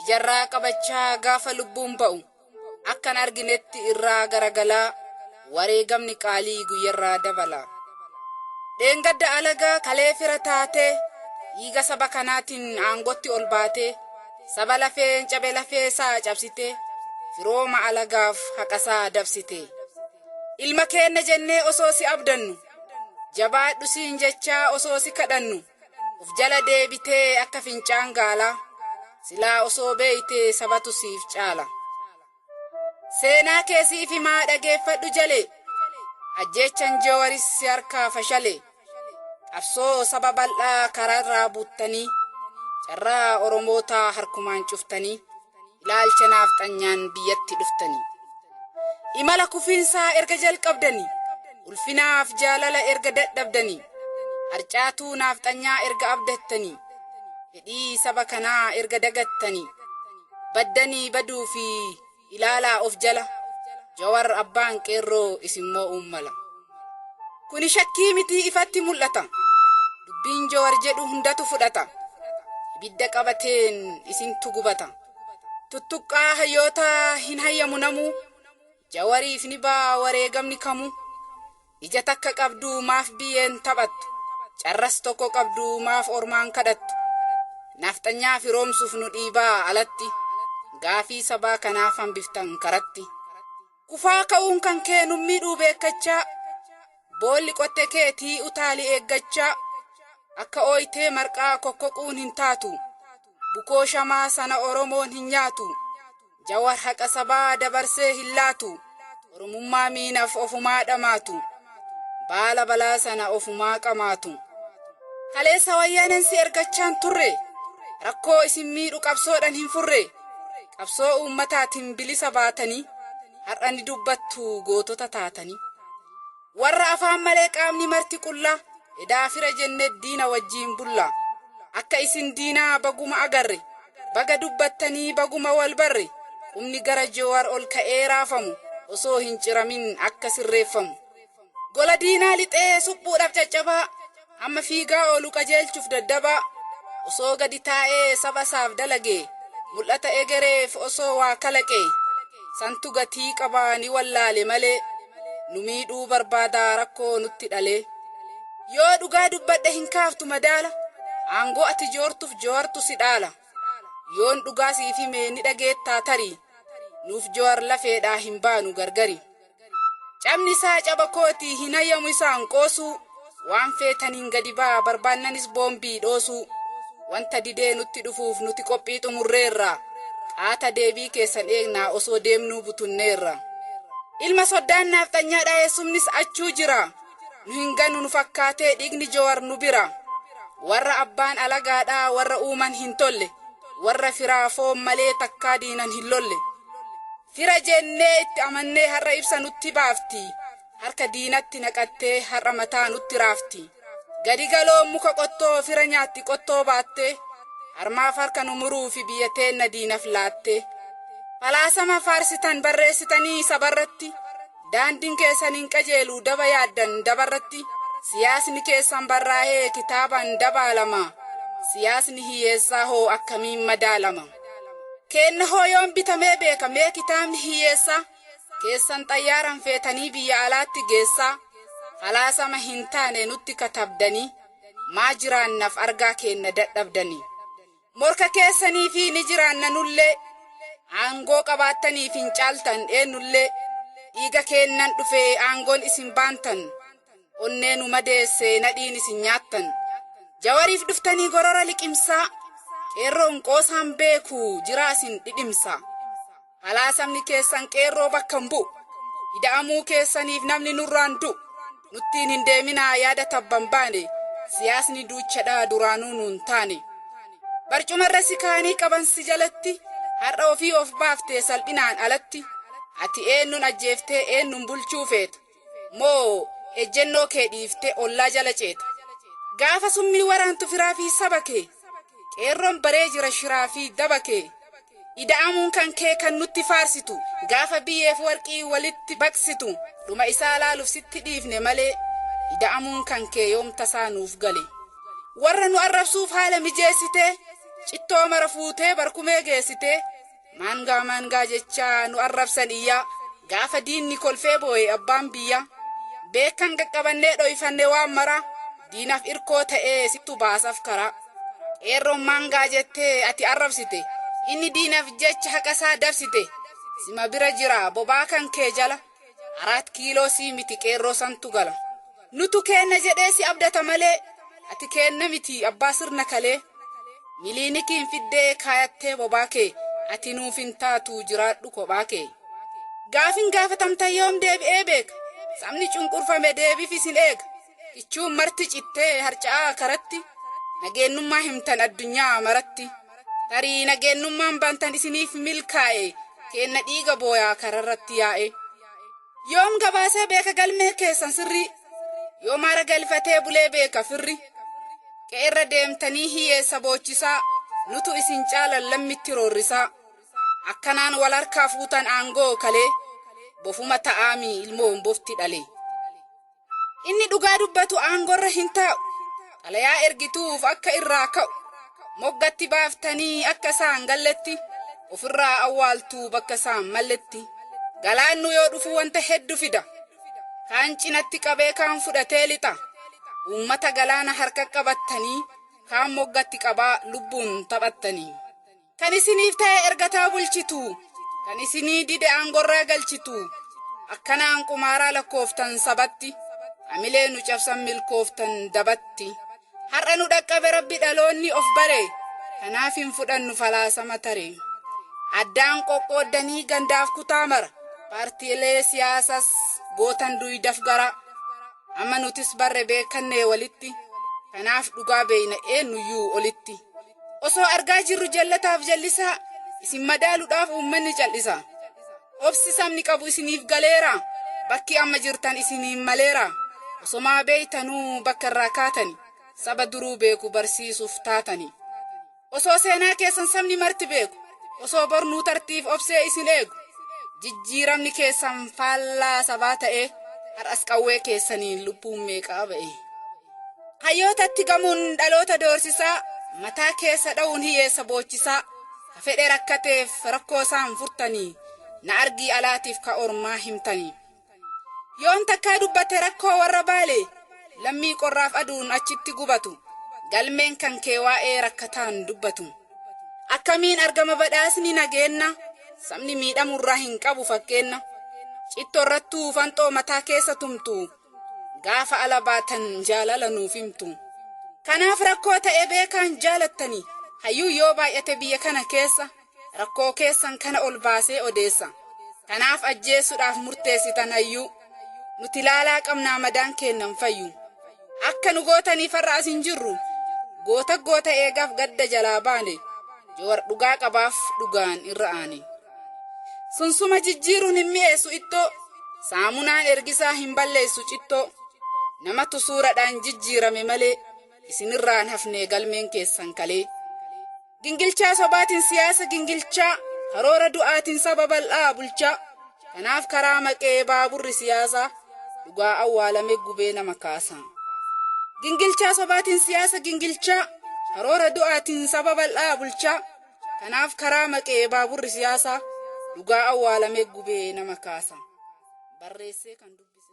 ijarraa qabachaa gaafa lubbuun ba'u akkan arginetti irraa garagalaa wareegamni qaalii guyyarraa dabala. Dheengadda alaga kalee fira taatee dhiiga saba kanaatiin aangotti ol baatee saba lafeen cabe lafee isaa cabsitee firooma alagaaf haqasaa dabsite. Ilma keenna jennee osoo si abdannu jabaadhu siin jechaa osoo si kadhannu Of jala deebitee akka fincaan gaalaa silaa osoo beeytee sabatu siif caala. Seenaa kee siif himaa dhageeffadhu jalee ajjeechan Jawaris si harkaa fashale. Qabsoo saba bal'aa karaarraa buttanii carraa Oromootaa harkumaan cuftanii. Ilaalcha naafxanyaan biyyatti dhuftanii. Imala kufiinsaa erga jalqabdanii. Ulfinaaf jaalala erga dadhabdanii. Harcaatuu naafxanyaa erga abdattanii. Fedhii saba kanaa erga dagattanii. Baddanii baduu fi ilaalaa of jala. Jawar abbaan qeerroo isin moo'uun mala. Kuni shakkii mitii ifatti mul'ata. Dubbiin Jowar jedhu hundatu fudhata. Ibidda qabateen isintu gubata. Tuttuqqaa hayyootaa hin hayyamu namuu. Jawariif ni ba'a wareegamni kamuu. Ija takka qabdu maaf biyyeen taphattu. Carras tokko qabdu maaf ormaan kadhattu. Nafxanyaa firoomsuuf nu dhiibaa alatti. Gaafii sabaa kanaaf hambiftan karatti. Kufaa ka'uun kan kee nun miidhuu beekkachaa Boolli qotte keetii utaali eeggachaa Akka ooytee marqaa kokkoquun hin taatu Bukoo shamaa sana Oromoon hin nyaatu Jawar haqa sabaa dabarsee hin laatu Oromummaa miinaf ofumaa dhamaatu Baala balaa sana ofumaa qamaatu. Kaleessa wayyaaneen si ergachaan turre. Rakkoo isin miidhu qabsoodhan hin furre. Qabsoo uummataatiin bilisa baatanii har'a ni dubbattu gootota taatanii. Warra afaan malee qaamni marti qullaa edaa fira jenne diina wajjiin bulla. Akka isin diinaa baguma agarre. Baga dubbattanii baguma wal barre qubni gara Joowar ol ka'ee raafamu osoo hin ciramin akka sirreeffamu. Gola diinaa lixee suphuudhaaf caccabaa amma fiigaa oolu qajeelchuuf daddabaa osoo gadi taa'ee saba isaaf dalagee mul'ata egereef osoo waa kalaqee santu gatii qaba ni wallaale malee. nu miidhuu barbaada rakkoo nutti dhalee yoo dhugaa dubbadhe hin kaaftu madaala aangoo ati joortuuf jowartu si dhaala yoon dhugaa siif hime ni dhageettaa tarii nuuf jowar lafeedhaa hin baanu gargari cabni isaa caba kooti hin hayyamu isaan qoosuu Waan feetaniin gadi ba'aa, barbaannanis boombii dhoosuu. Wanta didee nutti dhufuuf nuti qophii xumurreerra. Qaata deebii keessan eegnaa osoo deemnuu butunneerra. Ilma soddaan naafxanyaa dhaayessumnis achuu jira. Nu hin ganu nu fakkaatee dhiigni Jowar nu bira. Warra abbaan alagaadhaa warra uuman hin tolle. Warra firaa foon malee takkaa diinan hin lolle. Fira jennee itti amannee har'a ibsa nutti baafti. Harka diinatti naqattee har'a mataa nutti raafti. Gadi galoon muka qottoo fira nyaatti qottoo baattee harmaaf harka nu muruufi biyya teenna diinaf laattee. Falaasama faarsitan barreessitanii sabarratti daandin keessan hin qajeelu daba yaaddan dabarratti siyaasni keessan barraahee kitaaban dabaalama siyaasni hiyyeessaa hoo akkamiin madaalama? Keenna hoo yoom bitamee beeka mee kitaabni hiyyeessaa? keessan xayyaaran feetanii biyya alaatti geessaa falaasama hin taane nutti katabdanii maa jiraannaf argaa keenna dadhabdanii? Morka keessaniifi ni jiraanna nullee aangoo qabaattaniif hin caaltan eennullee dhiiga keennan dhufee aangoon isin baantan onnee nu madeesse nadhiin isin nyaattan jawariif dhuftanii gorora liqimsaa qeerroon qoosaan beeku jiraa isin dhidhimsaa. Falaasamni keessan qeerroo bakka hin bu'u. Ida'amuu keessaniif namni nurraa hin du'u. Nuttiin hin deeminaa yaada tabba hin baane. Siyaasni duuchadha duraanuu nu hin taane. Barcumarra si kaa'anii qaban si jalatti har'a ofii of baaftee salphinaan alatti. Ati eennuun ajjeeftee eennuun bulchuu feeta? Moo ejjennoo kee dhiiftee ollaa jala ceeta? Gaafa summii waraantu firaa fi saba kee? Qeerroon baree jira shiraa fi daba kee? Ida'amuun kan kee kan nutti faarsitu? Gaafa biyyeef warqii walitti baqsitu? Dhuma isaa laaluuf sitti dhiifne malee ida'amuun kan kee yoom tasaa nuuf gale? Warra nu arrabsuuf haala mijeessitee? Cittoo mara fuutee barkumee geessitee? Maangaa maangaa jechaa nu arrabsan iyyaa Gaafa diinni kolfee booye abbaan biyyaa Beekan qaqqabannee dhoyfanne waan maraa Diinaf irkoo ta'ee sittu baasaf karaa Qeerroon maangaa jettee ati arrabsite Inni diinaf jecha haqasaa dabsite Sima bira jira bobaa kan kee jala Araat kiiloo sii miti qeerroo santu gala. Nutu keenna jedhee si abdata malee ati keenna miti abbaa sirna kalee. Miliinikiin fiddee kaayattee bobaa kee ati nuuf hin taatu jiraadhu kophaa kee. Gaafin gaafatamtan yoom deebi'ee beeka sabni cunqurfame deebifis hin eega. Kichuun marti cittee harca'aa karatti nageennummaa himtan addunyaa maratti tarii nageennummaan bantan isiniif milkaa'e keenna dhiiga booyaa kararratti yaa'e yoom gabaasee beeka galmee keessan sirrii yoom aara galfatee bulee beeka firri qe'erra deemtanii hiyyeessa boochisaa nutu isin caalan lammitti roorrisaa akkanaan wal harkaa fuutan aangoo kalee bofuma ta'aami ilmoon bofti dhalee. Inni dhugaa dubbatu aangorra hin taa'u. Xalayaa ergituuf akka irraa ka'u. Moggatti baaftanii akka isaan galletti ofirraa awwaaltuu bakka isaan malletti. Galaannu yoo dhufu wanta heddu fida. Kaan cinatti qabee kaan fudhatee lixa. Uummata galaana harka qabattanii kaan moggatti qabaa lubbuun taphattanii. Kan isiniif ta'e ergataa bulchitu. Kan isinii dide aangorraa galchitu. Akkanaan qumaaraa lakkooftan sabatti. Amilee nu cabsan milkooftan dabatti. Har'a nu dhaqqabe rabbi dhaloonni of bare. Kanaaf hin fudhannu falaasama tare. Addaan qoqqooddanii gandaaf kutaa mara. Paartiilee siyaasas gootan duydaf garaa. Amma nutis barre beekannee walitti. Kanaaf dhugaa beeyna eennuyyuu olitti. Osoo argaa jirru jallataaf jallisaa isin madaaludhaaf uummanni cal'isa. Obsi sabni qabu isiniif galeera. Bakki amma jirtan isiniin maleera. Osomaa beeytanuu bakka irraa kaatani. Saba duruu beeku barsiisuuf taatani. Osoo seenaa keessan sabni marti beeku. Osoo bornuu tartiif obsee isin eegu. Jijjiiramni keessan faallaa sabaa ta'ee har'as qawwee keessaniin lubbuun meeqaa ba'e. Hayyootatti gamuun dhaloota doorsisaa, mataa keessa dha'uun hiyyeessa boochisaa, ka fedhe rakkateef rakkoo isaan furtanii, na argii alaatiif ka ormaa himtanii. Yoon takkaa dubbate rakkoo warra baalee, lammii qorraaf aduun achitti gubatu, galmeen kan kee waa'ee rakkataan dubbatu. Akkamiin argama badhaasni nageenna, sabni miidhamurraa hin qabu fakkeenna. Cittorrattuu fanxoo mataa keessa tumtu, Gaafa ala baatan jaalala nuuf himtu. Kanaaf rakkoo ta'e beekaan jaalattanii. Hayyuun yoo baay'ate biyya kana keessa rakkoo keessan kana ol baasee odeessa. Kanaaf ajjeessuudhaaf murteessitan hayyuu. Nuti laalaa qabnaa madaan keennan fayyu. Akka nu gootaniif har'a as hin jirru. Goota goota eegaaf gadda jalaa baane. Jawar dhugaa qabaaf dhugaan irra aane. Sunsuma jijjiiruun hin mi'eessu ittoo, saamunaan ergisaa hin balleessu cittoo. Namatu suuradhaan jijjiirame malee, isinirraan hafnee galmeen keessan kalee. Gingilchaa sobaatiin siyaasa gingilchaa, karoora du'aatiin saba bal'aa bulchaa. Kanaaf karaa maqee baaburri siyaasaa, dhugaa awwaalame gubee nama kaasa. Gingilchaa sobaatiin siyaasa gingilchaa, karoora du'aatiin saba bal'aa bulchaa. Kanaaf karaa maqee baaburri siyaasaa dhugaa awwaalamee gubee nama kaasa. Barreessee kan dubbise.